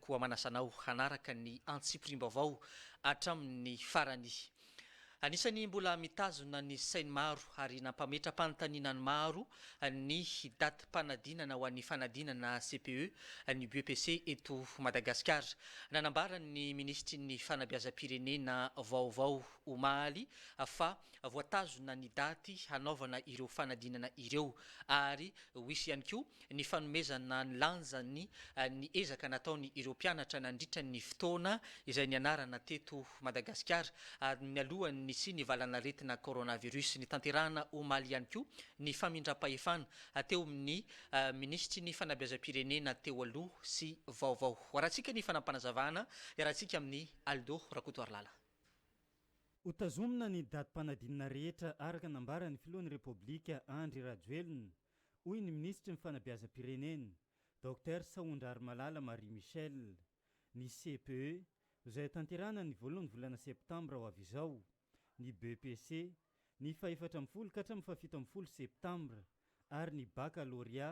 Koa manasa anao hanaraka ny antsipiriam-baovao hatramin'ny farany. Anisan'ny mbola mitazona ny sain'ny maro ary nampametra-panontaniana ny maro ny datim-panadinana ho an'ny fanadinana CPE ny BEPC eto Madagasikara. Nanambara ny minisitry ny Fanabeazam-pirenena vaovao omaly fa voatazona ny daty hanaovana ireo fanadinana ireo ary ho hisy ihany koa ny fanomezana ny lanjany ny ezaka nataony ireo mpianatra nandritra ny fotoana izay nianarana teto Madagasikara ary mialoha ny nisian'ny valan'aretina coronavirus. Nitanterahana omaly ihany koa ny famindram-pahefana teo amin'ny minisitry ny fanabeazam-pirenena teo aloha sy vaovao. Arahantsika ny fanapanazavana iarahantsika amin'i Aldo Rakotoarilala. Hotazomina ny datim-panadinana rehetra araka nambaran'ny filohan'ny Repoblika Andry Rajoelina. hoy ny minisitry ny Fanabeazam-pirenena, Docteur Sahondrarimalala Marie Michelle. Ny CPE, izay hotanterahana ny voalohan'ny volana septambra ho avy izao, ny BEPC, ny fahefatra ambin'ny folo ka hatramin'ny fahafito ambin'ny folo septambra, ary ny Bakalôrea,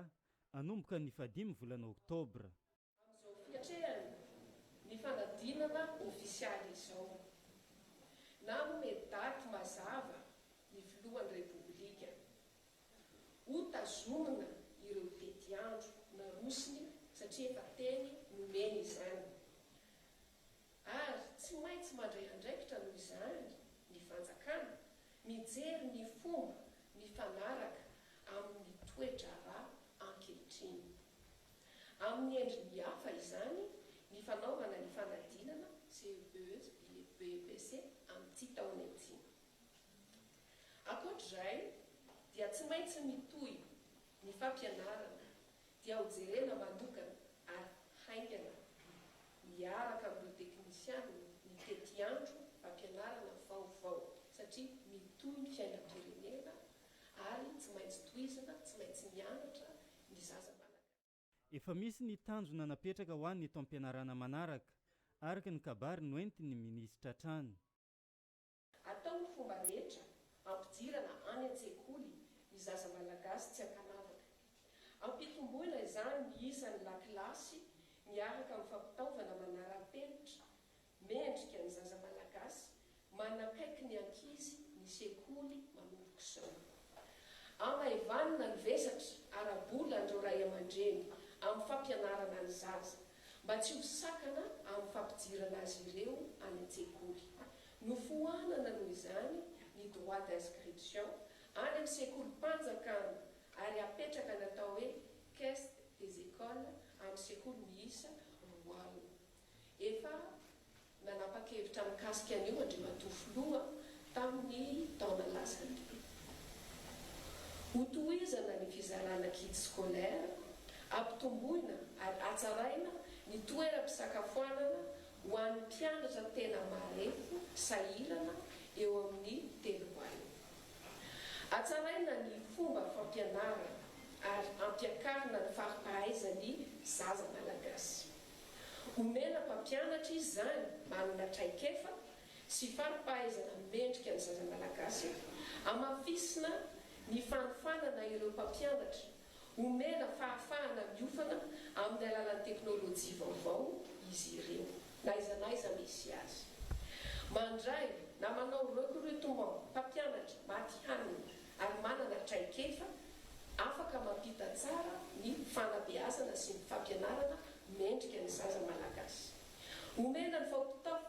hanomboka ny fahadimy volana oktobra. amin'izao fiatrehany ny fanadinana ofisialy izao, nanome daty mazava ny filohan'ny Repoblika ho tazomina ireo tetiandro narosony satria efa teny nomeny izany ary tsy maintsy mandray andraikitra noho izany ny fanjakana mijery ny fomba mifanaraka amin'ny toe-draharaha ankehitriny. Amin'ny endriny hafa izany ny fanaovana ny fanadinana CEPES amin'ity taona ity. Ankoatr'izay dia tsy maintsy mitohy ny fampianarana dia ho jerena manokana ary haingana miaraka amin'ireo teknisianina ny tetiandro fampianarana vaovao satria mitohy ny fiainam-pirenena ary tsy maintsy tohizina, tsy maintsy mianatra ny zaza malagasy. Efa misy ny tanjona napetraka ho an'ny taom-pianarana manaraka, araka ny kabary noentin'ny minisitra hatrany. Atao ny fomba rehetra hampidirana any an-tsekoly ny zaza malagasy tsy ankanavaka. Ampitomboina izany ny isan'ny lakilasy miaraka amin'ny fampitaovana manara-penitra Mendrika ny zaza malagasy manakaiky ny ankizy ny sekoly manomboka izao. Amaivanina ny vesatra ara-bola an'ireo ray aman-dreny amin'ny fampianarana ny zaza mba tsy ho sakana amin'ny fampidirana azy ireo any an-tsekoly. Nofoanana noho izany ny droit d'inscription any amin'ny sekolim-panjakana ary apetraka ny atao hoe caisse des écoles amin'ny sekoly miisa roa alina. Efa nanapa-kevitra mikasika an'io Andriamatoa Filoha tamin'ny taona lasa io. Hotohizana ny fizarana kits scolaires, hampitomboina ary hatsaraina ny toeram-pisakafoanana ho an'ny mpianatra tena marefo sahirana eo amin'ny telo haino. Hatsaraina ny fomba fampianarana ary hampiakarina ny fari-pahaizan'ny zaza malagasy. Omena mpampianatra izy izany manana traikefa sy fari-pahaizana mendrika ny zaza malagasy, amafisina ny fanofanana ireo mpampianatra, omena fahafahana miofana amin'ny alalan'ny teknolojia vaovao izy ireo, n'aiza n'aiza misy azy. Mandray na manao recrutement mpampianatra matihanina. ary manana traikefa afaka mampita tsara ny fanabeazana sy ny fampianarana mendrika ny zaza malagasy. Omena ny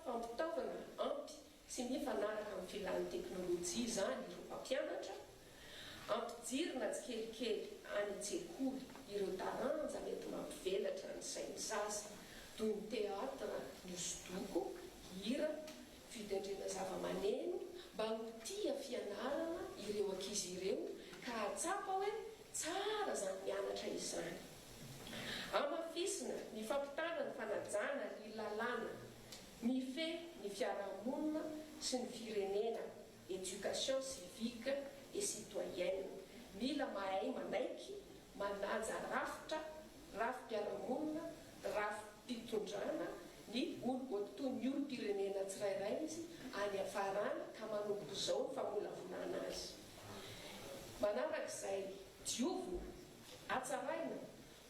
fampitaovana ampy sy mifanaraka amin'ny filan'ny teknolojia izany ireo mpampianatra, ampijirina tsikelikely any an-tsekoly ireo taranja mety mampivelatra ny sain'ny zaza toy ny teatra, ny hosodoko, hira, Fitendrena zavamaneno mba ho tia fianarana ireo ankizy ireo ka hahatsapa hoe tsara izany mianatra izany. Hamafisina ny fampitana ny fanajana ny lalàna mifehy ny fiarahamonina sy ny firenena Education civique et citoyenne, mila mahay manaiky, manaja rafitra, rafi-piarahamonina, rafi-pitondrana, ny olo oa toy ny olom-pirenena tsirairay izy any afarany ka manomboka izao ny famolavolana azy. Manaraka izay, diovina, hatsaraina,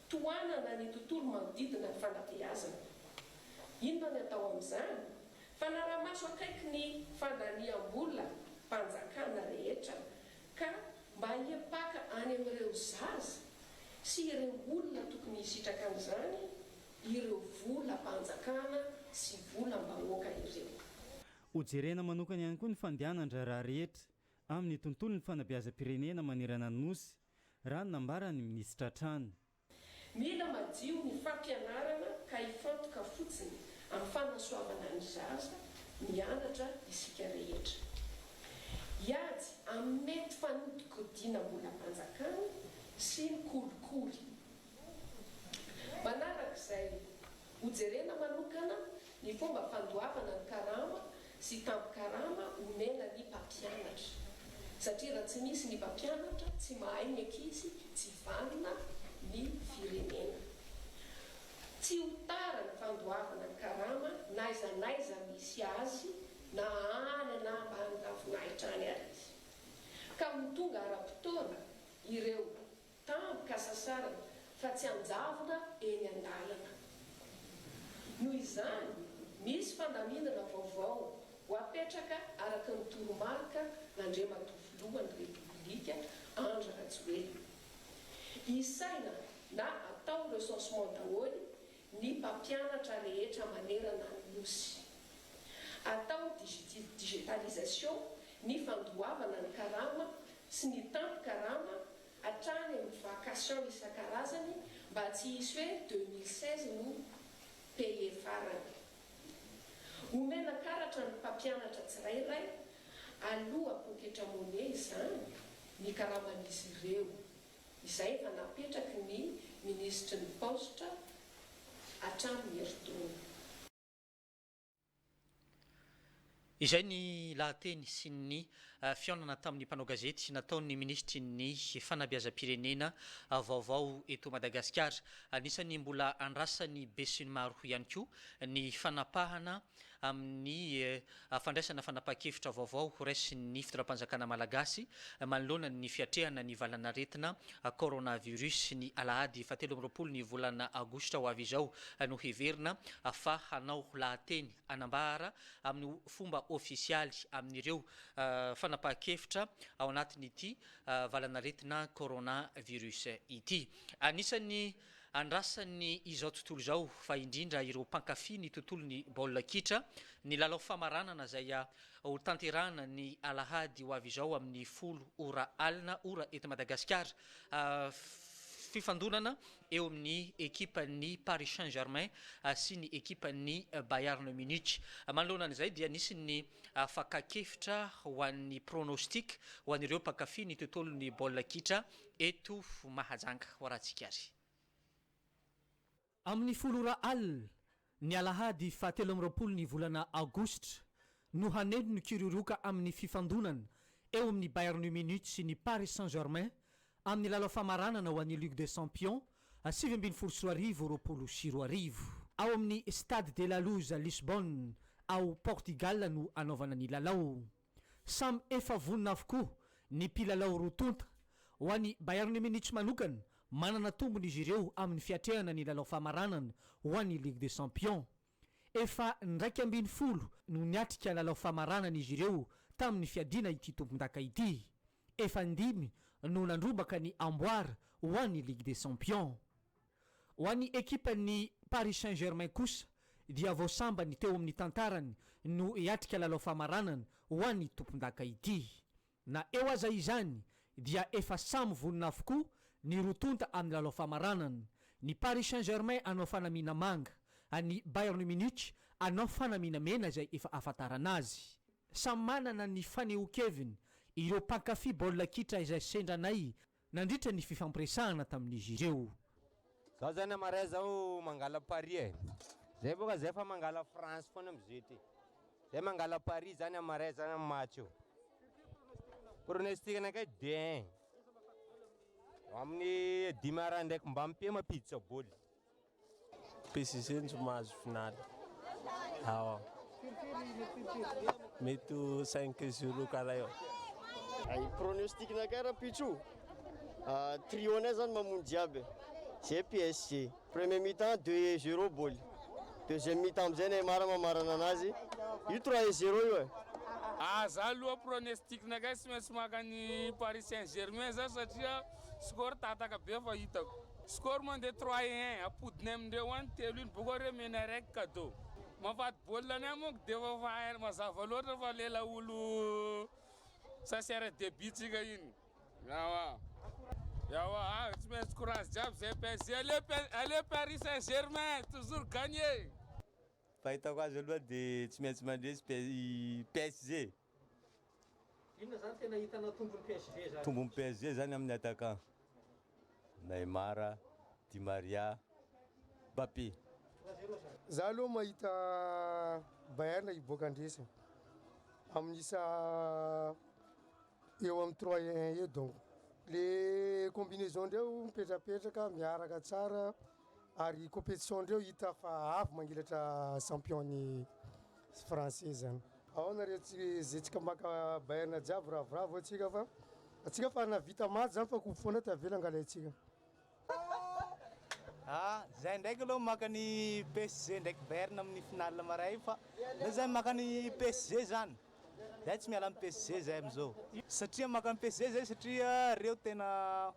Tohanana ny tontolo manodidina ny fanabeazana. Inona ny atao amin'izany? Fanarahamaso akaiky ny fandaniam-bola mpanjakana rehetra ka mba hiapaka any amin'ireo zaza sy ireo olona tokony hisitraka an'izany ireo volam-panjakana sy volam-bahoaka ireo. Hojerena manokana ihany koa ny fandehanan-draharaha rehetra amin'ny tontolon'ny fanabeazam-pirenena manerana ny Nosy raha ny nambaran'ny minisitra hatrany. Mila madio ny fampianarana ka hifantoka fotsiny amin'ny fanasoavana ny zaza mianatra isika rehetra. Hiady amin'ny mety fanodinkodinam-bolam-panjakana sy ny kolikoly. Manaraka izay, Hojerena manokana ny fomba fandoavana ny karama sy tambin-karama omena ny mpampianatra, satria raha tsy misy ny mpampianatra, tsy mahay ny ankizy, tsy vanona ny firenena. Tsy ho tara ny fandoavana ny karama n'aiza n'aiza misy azy na any na ambany ravinahitra any ary izy, ka ho tonga ara-potoana ireo Tambo ka sasarana fa tsy anjavona eny an-dalana. Noho izany, misy fandaminana vaovao ho apetraka araka ny toromarika nandriamatoa Filohan'ny Repoblika Andry Rajoelina. Isaina na atao recensement daholo ny mpampianatra rehetra manerana ny Nosy. Atao digitalisation ny fandoavana ny karama sy ny tampin-karama hatrany amin'ny vacation isan-karazany mba tsy hisy hoe deux mille seize no payer farany. Omena karatra ny mpampianatra tsirairay aloha poketra money izany ny karaman'izy ireo. izay efa napetraky ny minisitry ny Paositra hatramin'ny herintaona. Izay ny lahateny sy ny fihaonana tamin'ny mpanao gazety nataon'ny minisitry ny Fanabeazam-pirenena vaovao eto Madagasikara. Anisan'ny mbola andrasan'ny besinimaro ihany koa ny fanapahana amin'ny fandraisana fanapahan-kevitra vaovao horaisin'ny fitondram-panjakana malagasy manoloana ny fiatrehana ny valan'aretina coronavirus ny alahady fahatelo amby roapolo ny volana aogositra ho avy izao no heverina fa hanao lahateny hanambara amin'ny fomba ofisialy amin'ireo fanapahan-kevitra ao anatin'ity valan'aretina coronavirus ity. Anisan'ny Andrasan'ny izao tontolo izao, fa indrindra ireo mpankafy ny tontolon'ny baolina kitra, ny lalao famaranana izay ho tanterahina ny alahady ho avy izao amin'ny folo ora alina ora eto Madagasikara. Fifandonana eo amin'ny ekipan'ny Paris Saint Germain sy ny ekipan'ny Bayern Munich. Manoloana an'izay dia nisy ny fakakevitra ho an'ny pronostic ho an'ireo mpankafy ny tontolon'ny baolina kitra Eto Mahajanga ho arantsika ary. Amin'ny folo ora alina, ny alahady fahatelo amby roapolo ny volana aogositra, no haneno ny kiririoka amin'ny fifandonana eo amin'ny Bayern Munich sy ny Paris Saint-Germain amin'ny lalao famaranana ho an'ny Ligue des Champions sivy ambin'ny folo sy roa arivo roapolo sy roa arivo. Ao amin'ny Stade de la Luz Lisbonne ao Portigal no hanaovana ny lalao. Samy efa vonona avokoa ny mpilalao roa tonta. Ho an'ny Bayern Munich manokana, manana tombony izy ireo amin'ny fiatrehana ny lalao famaranana ho an'ny Ligue des Champions. Efa indraika ambin'ny folo no niatrika lalao famaranana izy ireo tamin'ny fiadiana ity tompondaka ity. Efa indimy no nandrombaka ny amboara ho an'ny Ligue des Champions. Ho an'ny ekipan'ny Paris Saint Germain kosa dia vao sambany teo amin'ny tantarany no hiatrika lalao famaranana ho an'ny tompondaka ity. Na eo aza izany dia efa samy vonona avokoa ny roa tonta amin'ny lalao famaranana, ny Paris Saint Germain hanao fanamiana manga, an'ny Bayern Munich hanao fanamiana mena izay efa ahafantarana azy. Samy manana ny fanehoan-keviny ireo mpankafy baolina kitra izay sendranay Nandritra ny fifampiresahana tamin'izy ireo. Zao zany am marais zao mangala Paris e! Zay boka zay fa mangala France foana am zio ty! Zay mangala Paris zany am marais zany am match io! Pronostic nakay deux un! Amin'ny dimy ara ndraiky mba mpe mampiditra boly! Pesizenjo mahazo finaly ao. Mety ho cinq zero karaha eo. Ay pronostic nakay rapitso trio nay zany mamono jiaby zay PSG premier mi temps deux e zero boly deuxième mi temps amzay Neymar mamarana anazy io trois e zero io e. Ah za aloha pronestic nakay tsy maintsy maka an'i paris saint germain za satria. Score ry tataka be fa hitako. Score mandeha trois et un apodiny amindreo any telo iny boko re mena araiky kado mampady baolina ny ahy manko de efa fa mazava loatra fa lela olo sasiara debut tsika iny ewa ewa a tsy maintsy courage jiaby zay PSG aleo aleo Paris Saint Germain toujours gagner. Fahitako azy aloha dia tsy maintsy mandresy i PSG. Inona zany tena hitanao tombony PSG zany? Tombony PSG zany aminy attaquant Neymar, Di Maria, Mbappé. Trois zero zany. Za aloha mahita Bayern hiboaka handresy amin'ny isa eo amin'ny trois un eo donc le combinaison ndreo mipetrapetraka miaraka tsara. Ary competition ndreo hita fa avy mangelatra champion ny français zany. Aona re zetsika maka Bayern jiaby ravoravo atsika fa atsika fa navita maty zany fa coupe fona tavela angala atsika. Ah zay ndraiky aloha maka ny PSG ndraiky Bayern amin'ny finale maray fa le zay maka ny PSG zany. Zay tsy miala am PSG zay amizao. Satria maka am PSG zay satria reo tena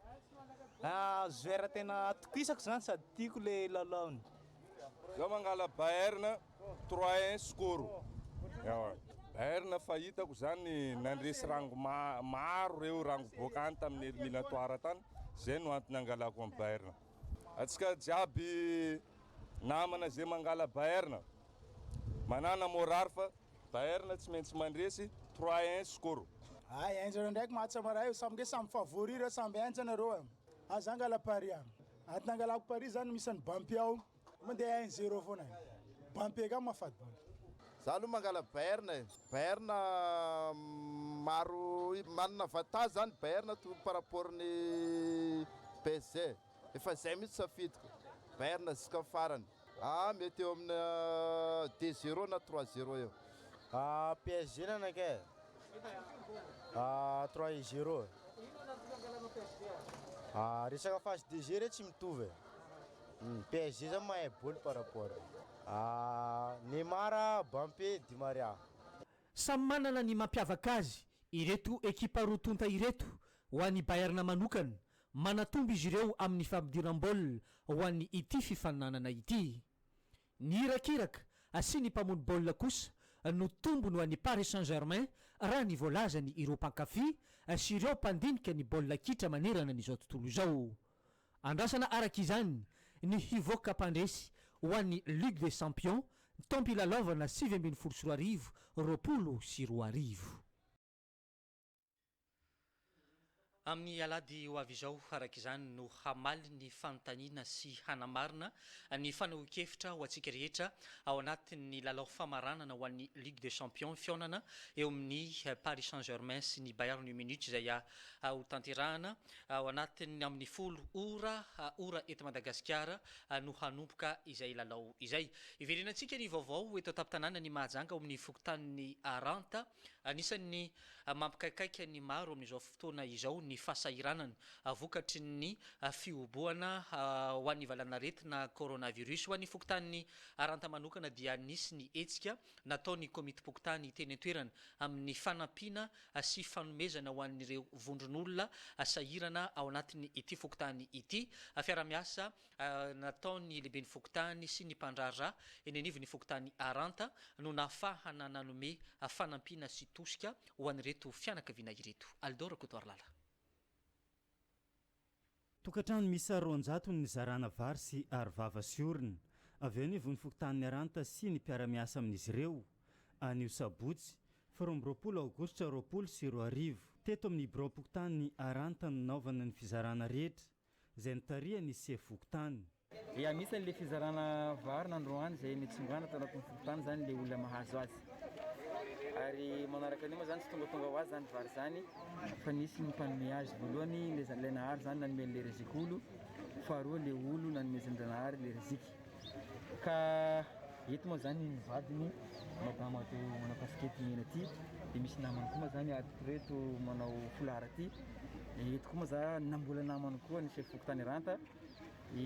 joueur tena atokisako zany sady tiako le lalaony. Zao mangala Bayern trois un score ewa Bayern fa hitako zany nandresy rango maro reo rango boaka any taminy eliminatoire tany zay no antony angalako am Bayern. Atsika jiaby namana ze mangala Bayern manana morary fa Bayern tsy maintsy mandresy trois un score. Hay enjana reo ndraiky match maraha io samge samy favori reo samby enjana reo an! Aza angala pari an! Ady nangalako pari zany misy an'i Bampy ao mandeha un zero foana e! Bampy ka mahafaty bôla. Za aloha mangala Bayern e! Bayern maro manana avantage zany Bayern par rapport ny PSG. Efa izay mihitsy safidiko. Bayern ziska farany. Ah mety eo amina deux zero na trois zero eo. Ah PSG ny anakay e. Ah trois et zero e. Ah resaka face de jeu re tsy mitovy e. Hum PSG zany mahay bol par rapport. Ah Neymar, Bampé, Di Maria. Samy manana ny mampiavaka azy ireto ekipa roa tonta ireto, ho an'i Bayern manokana, Manatombo izy ireo amin'ny fampidiram-baolina ho an'ny ity fifaninanana ity. Ny irakiraka asian'ny mpamono baolina kosa no tombony ho an'ny Paris Saint Germain raha ny voalazany ireo mpankafy sy ireo mpandinika ny baolina kitra manerana an'izao tontolo izao. Andrasana araka izany ny hivoaka mpandresy ho an'ny Ligue des Champions taom-pilalaovana sivy ambin'ny folo sy roa arivo, roapolo sy roa arivo. Amin'ny alahady ho avy izao, araka izany, no hamaly ny fanontaniana sy hanamarina ny fanehoan-kevitra ho antsika rehetra ao anatin'ny lalao famaranana ho an'ny Ligue des Champions fihaonana eo amin'ny Paris Saint-Germain sy ny Bayern Munich izay hotanterahana ao anatin'ny amin'ny folo ora ora eto Madagasikara no hanomboka izay lalao izay. Hiverenantsika ny vaovao eto an-tampon-tanànan'i Mahajanga ao amin'ny fokontanin'ny Ranta. Anisan'ny mampikaikaika ny maro amin'izao fotoana izao ny fahasahiranana vokatry ny fihobohana ho an'ny valan'aretina coronavirus. Ho an'ny fokontany Aranta manokana dia nisy ny hetsika nataon'ny komitim-pokontany teny an-toerana amin'ny fanampiana sy fanomezana ho an'ireo vondron'olona sahirana ao anatin'ity fokontany ity fiara-miasa nataon'ny lehiben'ny fokontany sy ny mpandraharaha eny anivon'ny fokontany Aranta no nahafahana nanome fanampiana sy tosika ho an'ireto fianakaviana ireto. Alidor Rakotoarilala. Tokantrano miisa roanjato ny nizarana vary sy arovava sy orona avy eo anivon'ny fokontanin'i Aranta sy ny mpiara-miasa amin'izy ireo, anio sabotsy faha roa amby roapolo aogositra roapolo sy roa arivo. Teto amin'ny biraom-pokontanin'i Aranta no nanaovana ny fizarana rehetra. izay nitarihan' i sefo fokontany. Dia anisan' ilay fizarana vary ny androany izay nitsongana tao anatin' ny fokontany izany ilay olona mahazo azy. Ary manaraka an' io moa izany tsy tongatonga ho azy izany vary izany fa nisy ny mpanome azy, voalohany ilay ilay nahary izany nanome an' ilay Reziky olo, faharoa ilay olo nanomezan' Dranahary ilay Reziky. Ka eto moa zany ny vadiny madama ato manao casquette mena ty de misy namany koa moa zany ato reto manao foulard ty de eto koa moa za na mbola namany koa ny chef fokontany Ranta i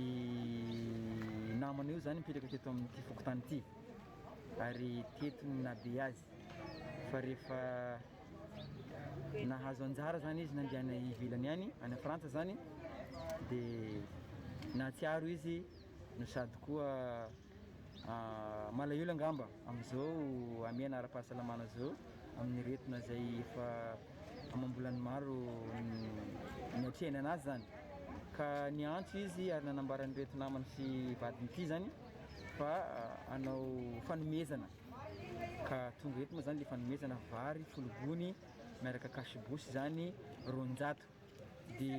namany io zany mipetraka teto amin'ity fokontany ity ary teto no nahabe azy fa rehefa Nahazo anjara zany izy nandeha any ivelany any, any Frantsa zany dia nahatsiaro izy no sady koa ah, malahelo angamba amin'izao hamehana ara-pahasalamana izao amin'ny retina izay efa amam-bolany maro niatrehany anazy zany ka niantso izy ary nanambara an'ireto namany sy vadiny ity zany fa ah, hanao fanomezana Ka tonga eto moa zany le fanomezana vary folo gony miaraka cash bouche izany roanjato de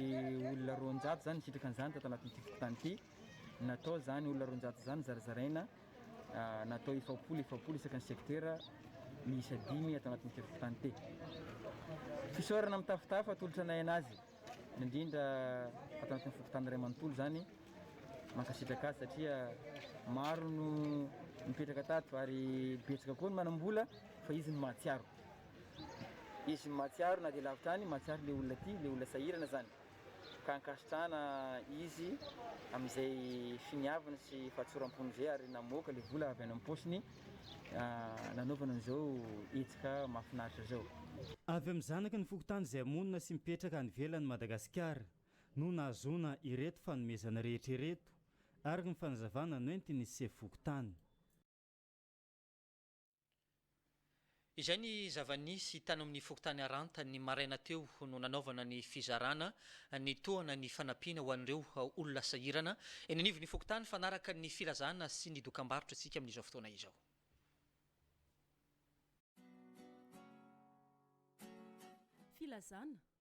olona roanjato zany nisitraka an'izany tato anatin'ity fokontany ity natao izany olona roanjato izany zarazaraina natao efapolo efapolo isaka ny secteur miisa dimy ato anatin'ity fokontany ity. Fisaorana mitafotafo atolotra anay anazy. indrindra ato anatin'ny fokontany iray manontolo izany, mankasitraka azy satria maro no nipetraka tato ary betsaka koa ny manam-bola fa izy no mahatsiaro, izy no mahatsiaro na dia lavitra any, mahatsiaro ilay olona tia, ilay olona sahirana izany ka ankasitrahana izy amin'izay finiaviny sy fahatsoram-pony izay ary namoaka ilay vola avy any am-paosiny. nanaovana an'izao hetsika mahafinaritra izao. Avy amin'ny zanaky ny fokontany izay monina sy mipetraka any ivelan'i Madagasikara no nahazoana ireto fanomezana rehetra ireto, araka ny fanazavana noentin'ny sefo fokontany. Izay ny zava-nisy tany amin'ny fokontany Aranta ny maraina teo no nanaovana ny fizarana ny tohana ny fanampiana ho an'ireo olona sahirana eny anivon'ny fokontany fanaraka ny filazana sy ny dokambarotra tsika amin'izao fotoana izao. Filazana,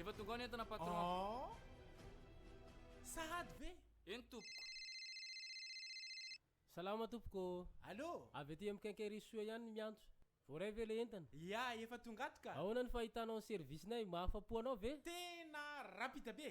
Efa tonga ao ny entana patron. Oh. Sahady ve? Eny tompoko. Salama tompoko. Allô? Avy aty amin'ny quincaillerie soa ihany ny miantso. Voaray ve ilay entana? Ya, efa tonga ato ka. Ahoana ny fahitanao ny service-nay? Mahafa-po anao ve? Tena rapide be.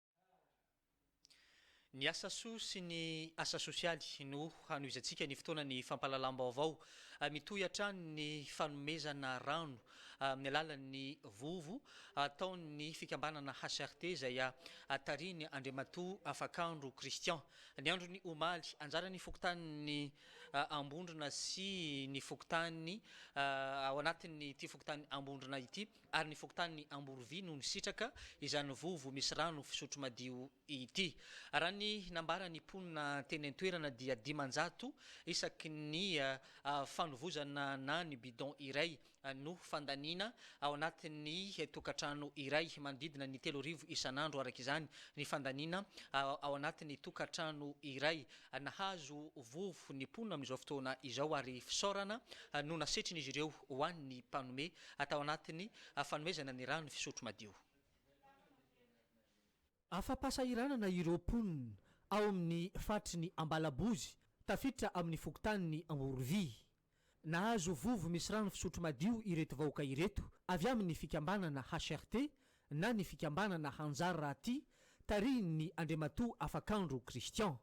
Ny asa soa sy ny asa sosialy no hanohizantsika ny fotoana ny fampahalalam-baovao. Mitohy hatrany ny fanomezana rano amin'ny alalan'ny vovo ataon'ny fikambanana HCRT izay tarihin'i Andriamatoa Afakandro Christian. Ny andron'ny omaly, anjaran'ny fokontanin'i Ambondrona sy ny fokontany ao anatin'ity fokontanin'i Ambondrona ity, ary ny fokontanin'i Amborovy no nisitraka izany vovo misy rano fisotro madio ity. Raha ny nambaran'ny mponina teny an-toerana dia dimanjato isaky ny fanovozana na ny bidon iray no fandaniana ao anatin'ny tokantrano iray, manodidina ny telo arivo isan'andro araka izany ny fandaniana ao anatin'ny tokantrano iray. Nahazo vovo ny mponina amin'izao fotoana izao ary fisaorana no nasetrin'izy ireo ho an'ny mpanome atao anatin'ny fanomezana ny rano fisotro madio. Afa-pahasahiranana ireo mponina ao amin'ny faritry ny Ambalabozy tafiditra amin'ny fokontanin'i Angorovy. Nahazo vovo misy rano fisotro madio ireto vahoaka ireto avy amin'ny fikambanana HRT na ny fikambanana Hanjary Rahatia tarihin'ny Andriamatoa Afakandro Christian.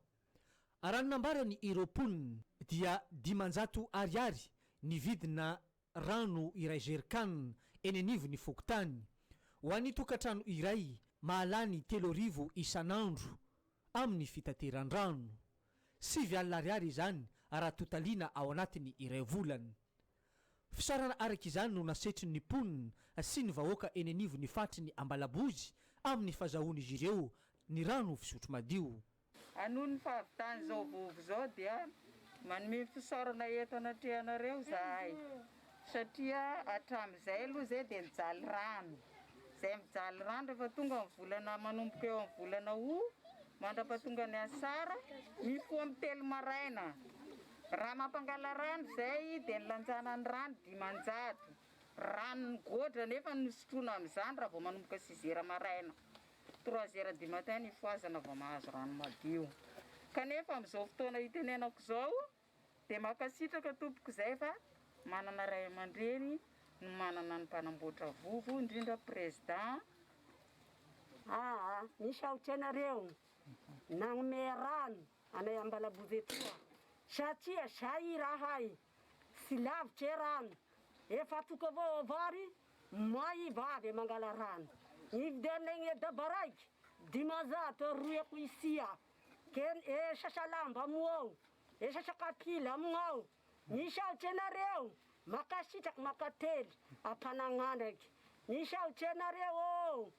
Raha ny nambarany ireo mponina dia dimanjato ariary ny vidina rano iray jerik'an eny anivon'ny fokontany, ho an'ny tokantrano iray mahalany telo arivo isan'andro amin'ny fitateran-drano. Sivy alina ariary izany raha totaliana ao anatin'ny iray volana. Fisaorana araka izany no nasetrin'ny mponina sy ny vahoaka eny anivon'ny faritry ny Ambalabozy amin'ny fazahoan'izy ireo ny rano fisotro madio. Noho ny fahavitan'izao vovo izao dia manome fisaorana eto anatrehanareo izahay satria hatramin'izay aloha izay dia nijaly rano izay mijaly rano rehefa tonga ny volana manomboka eo amin'ny volana août mandrapahatonga ny asara mifoha amin'ny telo maraina raha mampangala rano izay dia nilanjana ny rano dimanjato rano ny gôdra nefa ny sotroina amin'izany raha vao manomboka six heures maraina Trois heures du matin ny fohazana vao mahazo rano madio. Kanefa amin'izao fotoana itenenako izao dia mankasitraka tompoko izay fa manana ray aman-dreny no manana ny mpanamboatra vovo indrindra président aa. Misaotra anareo nanome rano anay Ambalabovetoa satria zay irahay. Tsy lavitra e rano efa toko avao ao vary may i vavy e mangala rano hividy anay ny e daba raiky dimanjato e roy ako isia ken e sasa lamba amo ao e sasa kapila amign ao misaotra anareo makasitraky makately ampanagnandraky misaotra anareo oo.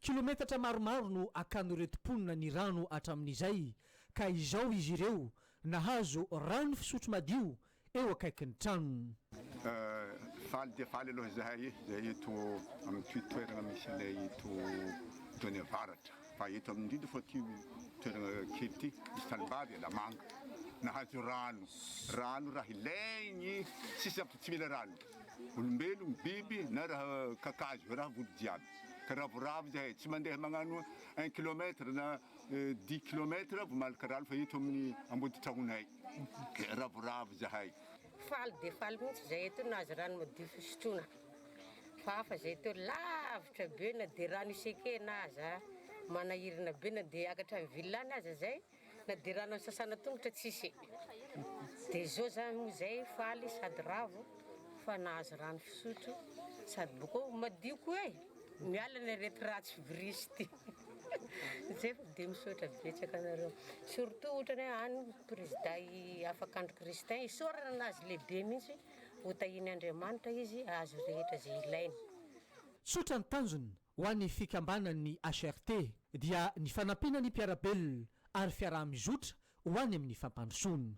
Kilometatra maromaro no akan'ireto mponina ny rano hatramin'izay ka izao izy ireo nahazo rano fisotro madio eo akaikin'ny tranony. Faly dia faly aloha izahay izay eto amin'ity toerana misy anay eto Done Avaratra fa eto amin'ny indrindra fa ity toerana kely ity misy tanimbary Alamanga nahazo rano, rano raha ilainy sisa fa tsy mila rano. Olombelogno, biby na raha kakazo, raha vody jiaby. Ka ravoravo zahay, tsy mandeha magnano un kilomètre na dix kilomètre vao malaka rano fa eto amin'ny amboditragnonay. Ka ravoravo zahay. Faly dia faly mihitsy zahay eto nahazo rano madio fisotrona. Fa hafa zahay eto lavitra be na dia rano isenkena aza, manahirana be na dia hiakatra any villa any aza zahay. Na de rano asasana tongotra tsisy e! de zao zany moa zay faly sady ravo fa nahazo rano fisotro sady boko madio koa e! miala ny aretir'atsy virus ty zay fa de misaotra betsaka anareo surtout ohatrany hoe any prezida i Afakandro Christin isaorana anazy lehibe mihitsy hotahian'Andriamanitra izy ahazo rehetra ze ilainy. Tsotra ny tanjona Ho an'ny fikambanan'ny HRT dia ny fanampiana ny mpiara-belona ary fiaraha-mizotra ho any amin'ny fampandrosoana.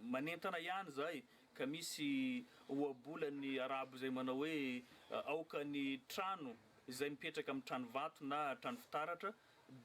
Manentana ihany izahay ka misy ohabolan'ny Arabo izay manao hoe aoka ny trano izay mipetraka amin'ny trano vato na trano fitaratra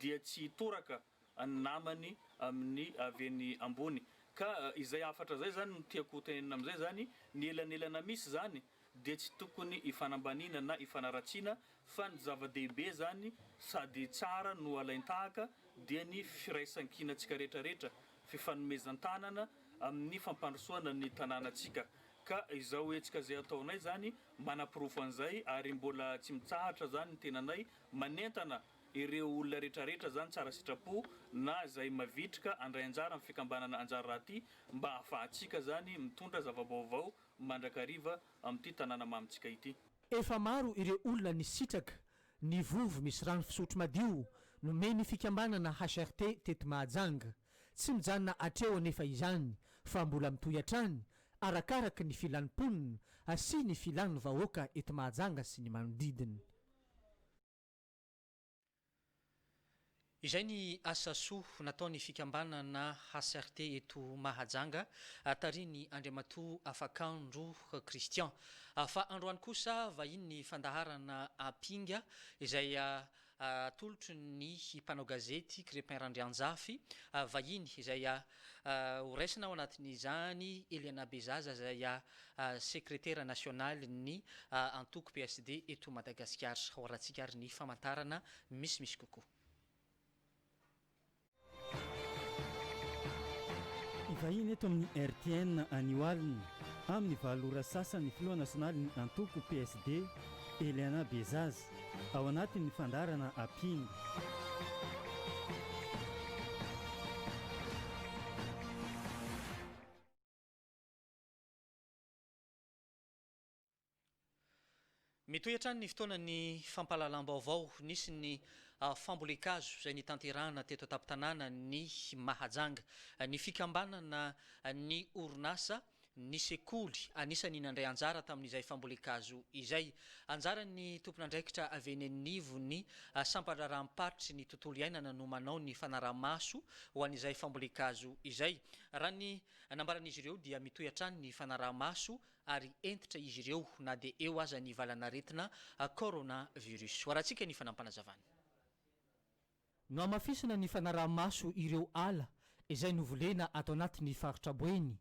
dia tsy hitoraka ny namany amin'ny avy eny ambony. Ka izay hafatra izay izany no tiako ho tenenina amin'izay izany, ny elanelana misy izany dia tsy tokony hifanambaniana na hifanaratsiana fa ny zava-dehibe izany sady tsara no alain-tahaka dia ny firaisan-kinantsika rehetrarehetra, fifanomezan-tanana amin'ny fampandrosoana ny tanànantsika. Ka izao hetsika izay ataonay izany manaporofo an'izay ary mbola tsy mitsahatra izany ny tenanay manentana. Ireo olona retraretra zany tsara sitrapo na zay mavitrika andray anjara amin'ny fikambanana anjara raha ty mba afahatsika zany mitondra zavabaovao mandrakariva amin'ity tanàna mamintsika ity. Efa maro ireo olona nisitraka ny vovo misy rano fisotro madio nomen'ny fikambanana HRT teto Mahajanga. Tsy mijanona hatreo anefa izany fa mbola mitohy hatrany arakaraky ny filan'ny mponina sy ny filan'ny vahoaka eto Mahajanga sy ny manodidina. Izay ny asa soa nataon'ny fikambanana HCRT eto Mahajanga, tarihin'ny Andriamatoa Afakandro Christian. Fa androany kosa vahiny ny fandaharana Ampinga izay atolotry ny mpanao gazety Crepin Randrianjafy, vahiny izay Ho raisina ao anatin'izany Eliana Bezaza izay sekretera nasionalin'ny antoko PSD eto Madagasikara. Ho arahintsika ary ny famantarana misimisy kokoa. Hivahiny eto amin'ny RTN anio alina amin'ny valo ora sasa ny filoha nasionalin'ny antoko PSD, Eliana Bezaza. Ao anatin'ny fandaharana Apingo. Mitohy hatrany ny fotoanan'ny fampahalalam-baovao. Nisy ny fambolen-kazo izay nitanterahana teto an-tampon-tanàna ny Mahajanga. Ny fikambanana ny orinasa ny sekoly anisany nandray anjara tamin'izay fambolen-kazo izay. Anjaran'ny tompon'andraikitra avy eny anivon'ny sampan-draharaham-paritry ny tontolo iainana no manao ny fanaraha-maso ho an'izay fambolen-kazo izay. Raha ny nambaran'izy ireo dia mitohy hatrany ny fanaraha-maso ary hentitra izy ireo na dia eo aza ny valan'aretina coronavirus. Hoarantsika ny fanampanazavan'i. Nohamafisina ny fanaraha-maso ireo ala izay novolena ato anatin'ny faritra Boeny,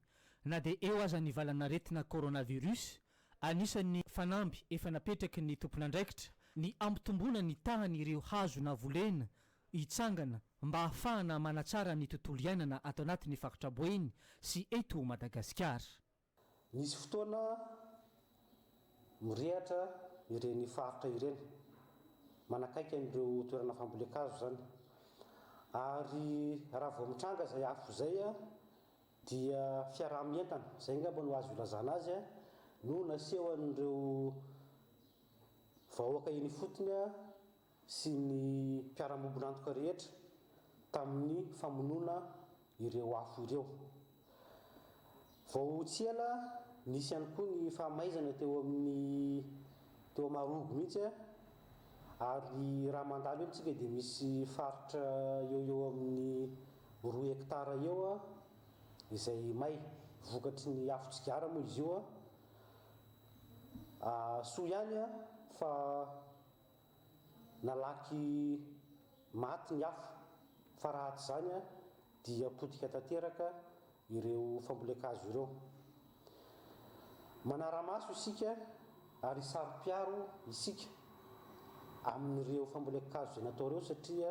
na dia eo aza ny valan'aretina coronavirus. Anisan'ny fanamby efa napetraky ny tompon'andraikitra ny hampitomboana ny tahan'ireo hazo navolena hitsangana mba hahafahana manatsara ny tontolo iainana ato anatin'ny faritra Boeny sy eto Madagasikara. Misy fotoana mirehatra ireny faritra ireny, manakaiky an'ireo toerana fambolen-kazo izany. Ary raha vao mitranga izay afo izay dia fiaraha-mientana, izay angamba no azo ilazana azy, no nasehon'ireo vahoaka eny ifotony. sy ny mpiara-miombon'antoka rehetra tamin'ny famonoana ireo afo ireo. Vao tsy ela, nisy ihany koa ny fahamaizana teo amin'ny teo Marogo mihitsy ary raha mandalo eo amintsika dia misy faritra eo eo amin'ny roa hectare eo izay may vokatry ny afo tsigara moa izy io. Soa ihany fa. Nalaky maty ny afo fa raha tsy izany dia potika tanteraka ireo fambolen-kazo ireo. Manara-maso isika ary saro-piaro isika amin'ireo fambolen-kazo izay natao ireo satria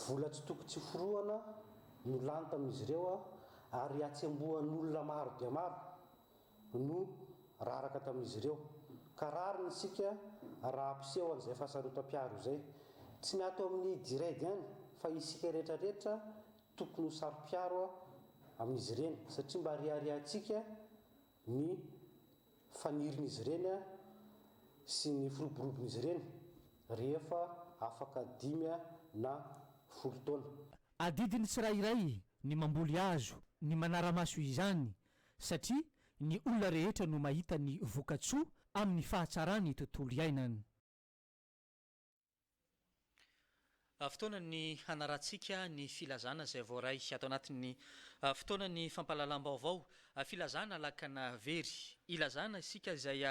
vola tsy toko tsy forohana no lany tamin'izy ireo ary atsembohan'olona maro dia maro no raraka tamin'izy ireo, ka rariny isika raha ampiseho an'izay fahasarotam-piaro izay. Tsy ny ato amin'ny Diread ihany fa isika rehetra rehetra tokony ho saro-piaro amin'izy ireny satria mba reharehantsika ny fanirin'izy ireny sy ny firoborobon'izy ireny rehefa afaka dimy na folo taona. Adidin'ny tsirairay ny mamboly hazo, ny manara-maso izany satria ny olona rehetra no mahita ny voka-tsoa amin'ny fahatsaran'ny tontolo iainany. Fotoana ny hanarahantsika ny filazana izay voaray ato anatin'ny fotoana ny fampahalalam-baovao, filazana lakana very. Ilazana isika izay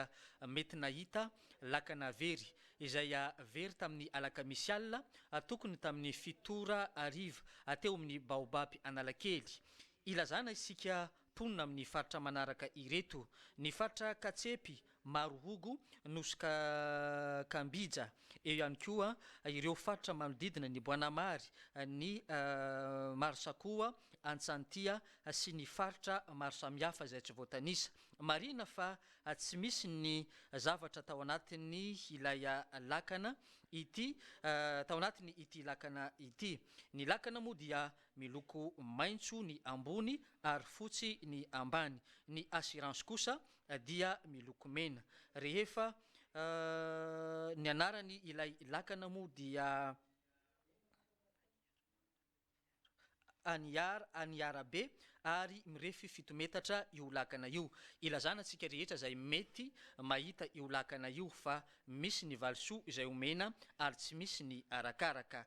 mety nahita lakana very, izay very tamin'ny alakamisy alina tokony tamin'ny fito ora hariva, teo amin'ny Baobab Analakely. Ilazana isika mponina amin'ny faritra manaraka ireto, ny faritra Katsepy, Marohogo, Nosy Kambija, eo ihany koa ireo faritra manodidina ny Boanamary, ny Marsakoa, Antsantia sy ny faritra maro samihafa izay tsy voatanisa. Marihina fa tsy misy ny zavatra tao anatin'ny ilay lakana ity tao anatin'ny ity lakana ity. Ny lakana moa dia Miloko maitso ny ambony ary fotsy ny ambany. Ny assurance kosa dia miloko mena. Rehefa ny anarany ilay lakana moa dia Aniar, Aniarabe, ary mirefy fito metatra io lakana io. Ilazana antsika rehetra izay mety mahita io lakana io fa misy ny valisoa izay omena ary tsy misy ny arakaraka.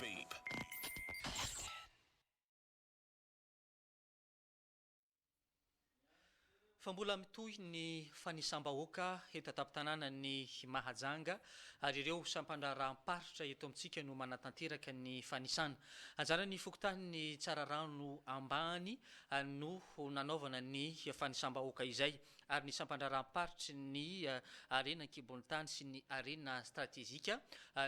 Babe. Fa mbola mitohy ny fanisam-bahoaka eto an-tampon-tanànan'i Mahajanga ary ireo sampan-draharaham-paritra eto amintsika no manatanteraka ny fanisana. Anjaran'ny fokontanin'i Tsararano Ambany no nanaovana ny fanisam-bahoaka izay. ary ny sampandraharaham-paritry ny harena an-kibon'ny tany sy ny harena stratejika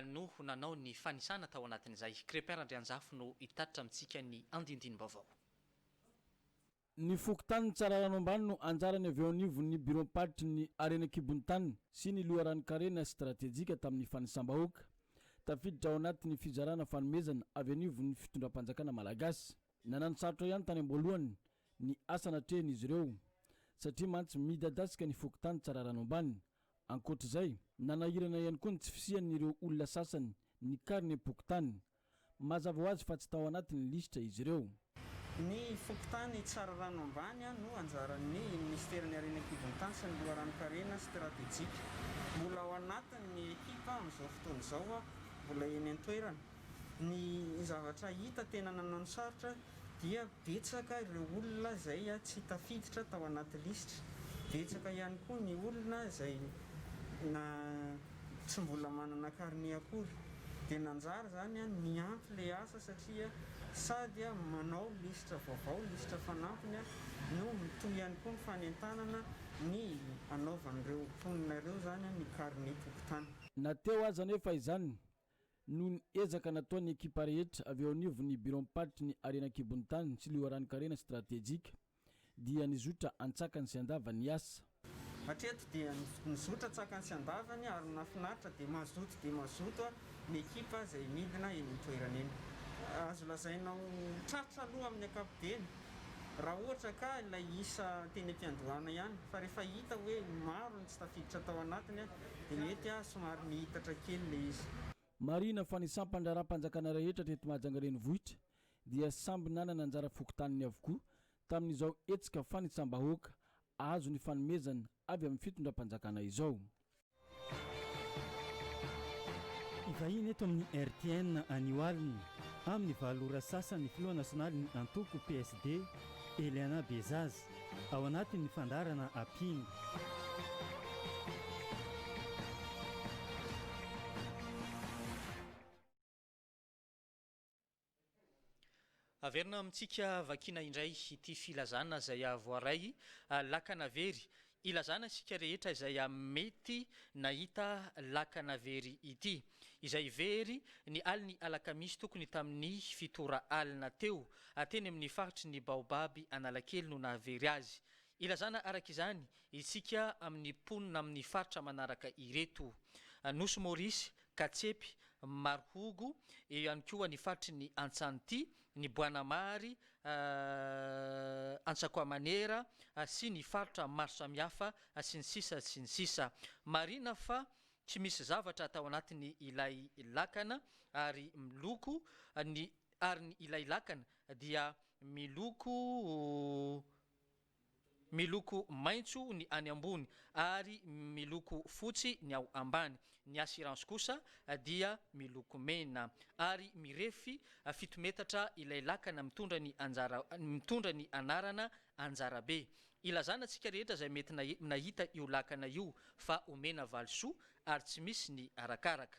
no nanao ny fanisana tao anatin'izay. Crépin Randrianjafy no hitatitra amintsika ny andindinim-baovao. Ny fokontanin'i Tsararano Ambany no anjarany avy eo anivon'ny biraom-paritry ny harena an-kibon'ny tany sy ny loharanon-karena stratejika tamin'ny fanisam-bahoaka tafiditra ao anatin'ny fizarana fanomezana avy anivon'ny fitondram-panjakana malagasy. Nananosarotra ihany tany am-boalohany ny asa natrehin'izy ireo, satria mantsy midadasika ny fokontany Tsararano Ambany. Ankoatra izay, nanahirana ihany koa ny tsy fisian'ireo olona sasany nikarina am-pokontany. Mazava ho azy fa tsy tao anatin'ny lisitra izy ireo. Ny fokontany Tsararano Ambany no anjaran'ny Minisiteran'ny Harena An-kibon-tany sy ny Loharanon-karena Stratejika. Mbola ao anatin'ny ekipa amin'izao fotoana izao aho, mbola eny an-toerana. Ny zavatra hita tena nananosarotra dia betsaka ireo olona izay tsy tafiditra tao anaty lisitra. Betsaka ihany koa ny olona izay na tsy mbola manana carnet akory. Dia nanjary izany niampy ilay asa satria sady manao lisitra vaovao, lisitra fanampiny, no mitohy ihany koa ny fanentanana ny hanaovan'ireo mponina ireo izany ny carnet tokotany. Na teo aza anefa izany Noho ny ezaka nataon'ny ekipa rehetra avy eo anivon'ny biraom-paritry ny harena an-kibon'ny tany sy loharanonkarena stratejika dia nizotra antsakany sy andavany ny asa. Hatreto dia nizotra antsakany sy andavany ary ny nahafinaritra dia mazoto dia mazoto ny ekipa izay midina eny an-toerana eny. Azo lazaina ho tratra aloha amin'ny ankapobeny raha ohatra ka ilay isa teny am-piandohana ihany fa rehefa hita hoe maro ny tsy tafiditra tao anatiny Dia mety aho somary nihitatra kely ilay izy. Marihina fa ny sampan-draharaham-panjakana rehetra teto Mahajanga renivohitra dia samby nanana anjara fokontaniny avokoa tamin'izao hetsika fanitsam-bahoaka azo ny fanomezana avy amin'ny fitondram-panjakana izao. Hivahiny eto amin'ny rtn anio alina amin'ny valo ora sasa ny filoha nasionalin'ny antoko PSD, Eliana Bezaza. Ao anatin'ny fandaharana Apiana. Averina amintsika vakiana indray ity filazana izay voaray lakana very Ilazana isika rehetra izay amin'ny mety nahita lakana very ity, izay very ny alin'ny alakamisy tokony tamin'ny fitora alina teo, teny amin'ny faritry ny Baobaby Analakely no nahavery azy. Ilazana araka izany isika amin'ny mponina amin'ny faritra manaraka ireto, Nosy Maurice, Katsepy, Marohogo, eo ihany koa ny faritry ny Antsanti, ny Boanamary, Antsakoamanera sy ny faritra maro samihafa sy ny sisa sy ny sisa. Marina fa tsy misy zavatra tao anatiny ilay lakana ary miloko ny ary ny ilay lakana dia miloko Miloko maitso ny any ambony ary miloko fotsy ny ao ambany. Ny assurance kosa dia miloko mena ary mirefy fito metatra ilay lakana mitondra ny anjara mitondra ny anarana Anjarabe. Ilazana antsika rehetra izay mety nahita io lakana io fa omena valisoa ary tsy misy ny arakaraka.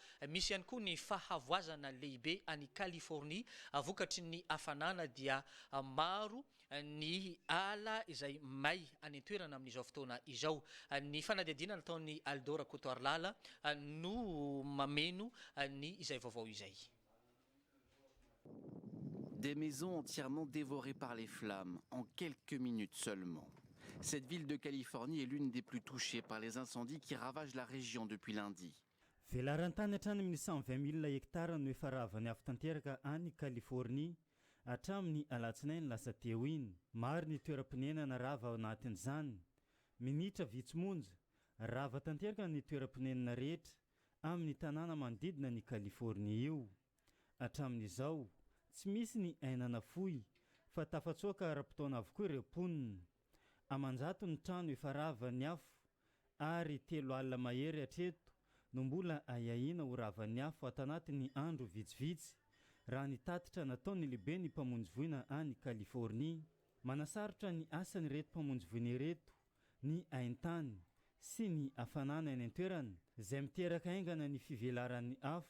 Misy ihany koa ny fahavoazana lehibe any Californie, vokatry ny hafanana dia maro ny ala izay may any an-toerana amin'izao fotoana izao. Ny fanadihadiana nataon'i Aldo Rakotoarilala no mameno ny izay vaovao izay. Des maisons entièrement dévorées par les flammes en quelques minutes seulement. Cette ville de Californie est l'une des plus touchées par les incendies qui ravagent la région depuis lundi. Velaran-tany hatrany amin'ny cent vingt mille hectares no efa ravany avo tanteraka any Californie hatramin'ny alatsinainy lasa teo iny. Maro ny toeram-ponenana rava ao anatin'izany. Minitra vitsy monja, rava tanteraka ny toeram-ponenana rehetra amin'ny tanàna manodidina an'i Californie io. Hatramin'izao, tsy misy ny aina nafoy fa tafatsoaka ara-potoana avokoa ireo mponina. Aman-jato ny trano efa ravan'ny afo ary telo alina mahery hatreto no mbola ahiahiana ho ravan'ny afo ato anatin'ny andro vitsivitsy, raha ny tatitra nataon'ny lehiben'ny mpamonjy voina any Californie. Manasarotra ny asan'ireto mpamonjy voina ireto ny haintany sy ny hafanana eny an-toerana, izay miteraka haingana ny fivelaran'ny afo.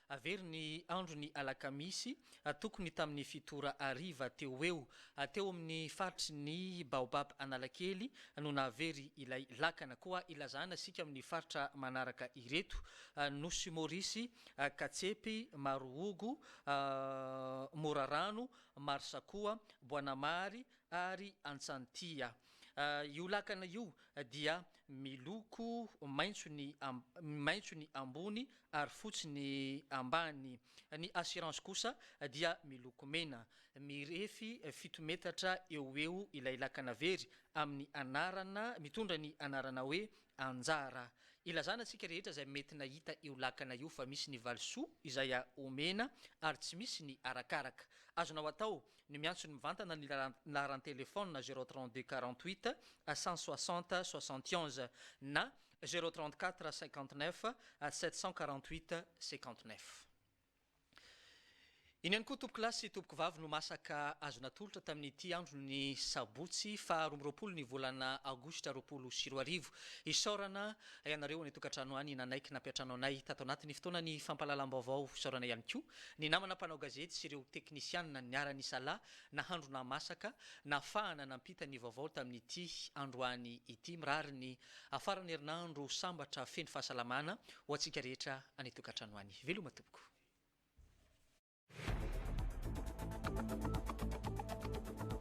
Very ny andron'ny alakamisy, tokony tamin'ny fito ora hariva teo ho eo, teo amin'ny faritry ny Baobab Analakely no nahavery ilay lakana. Koa ilazana isika amin'ny faritra manaraka ireto, Nosy Maurice, Katsepy, Marohogo, Morarano, Marsakoa, Boanamary, ary Antsantia. Io lakana io dia miloko maitso ny maitso ny ambony ary fotsy ny ambany. Ny Assurance kosa dia miloko mena. Mirefy fito metatra eo ho eo ilay lakana very amin'ny anarana mitondra ny anarana hoe Anjara. Ilazana antsika rehetra izay mety nahita io lakana io fa misy ny valisoa izay omena ary tsy misy ny arakaraka. Azonao atao no miantso ny mivantana ny laharan-telefaonina zéro trente deux quarante huit cent soixante soixante onze na zéro trente quatre cinquante neuf sept cent quarante huit cinquante neuf. Iny ihany koa tompokolahy sy tompokovavy no masaka azo natolotra tamin'ity andro ny sabotsy faha roa amby roapolo ny volana aogositra roapolo sy roa arivo. Isaorana ianareo any an-tokantrano any nanaiky nampiantrano anay tato anatin'ny fotoanan'ny fampahalalam-baovao. Isaorana ihany koa Ny namana mpanao gazety sy ireo teknisianina niara-nisalahy nahandro nahamasaka nahafahana nampita ny vaovao tamin'ity androany ity. Mirary ny afaran'ny herinandro sambatra feno fahasalamana ho antsika rehetra any an-tokantrano any. Veloma tompoko.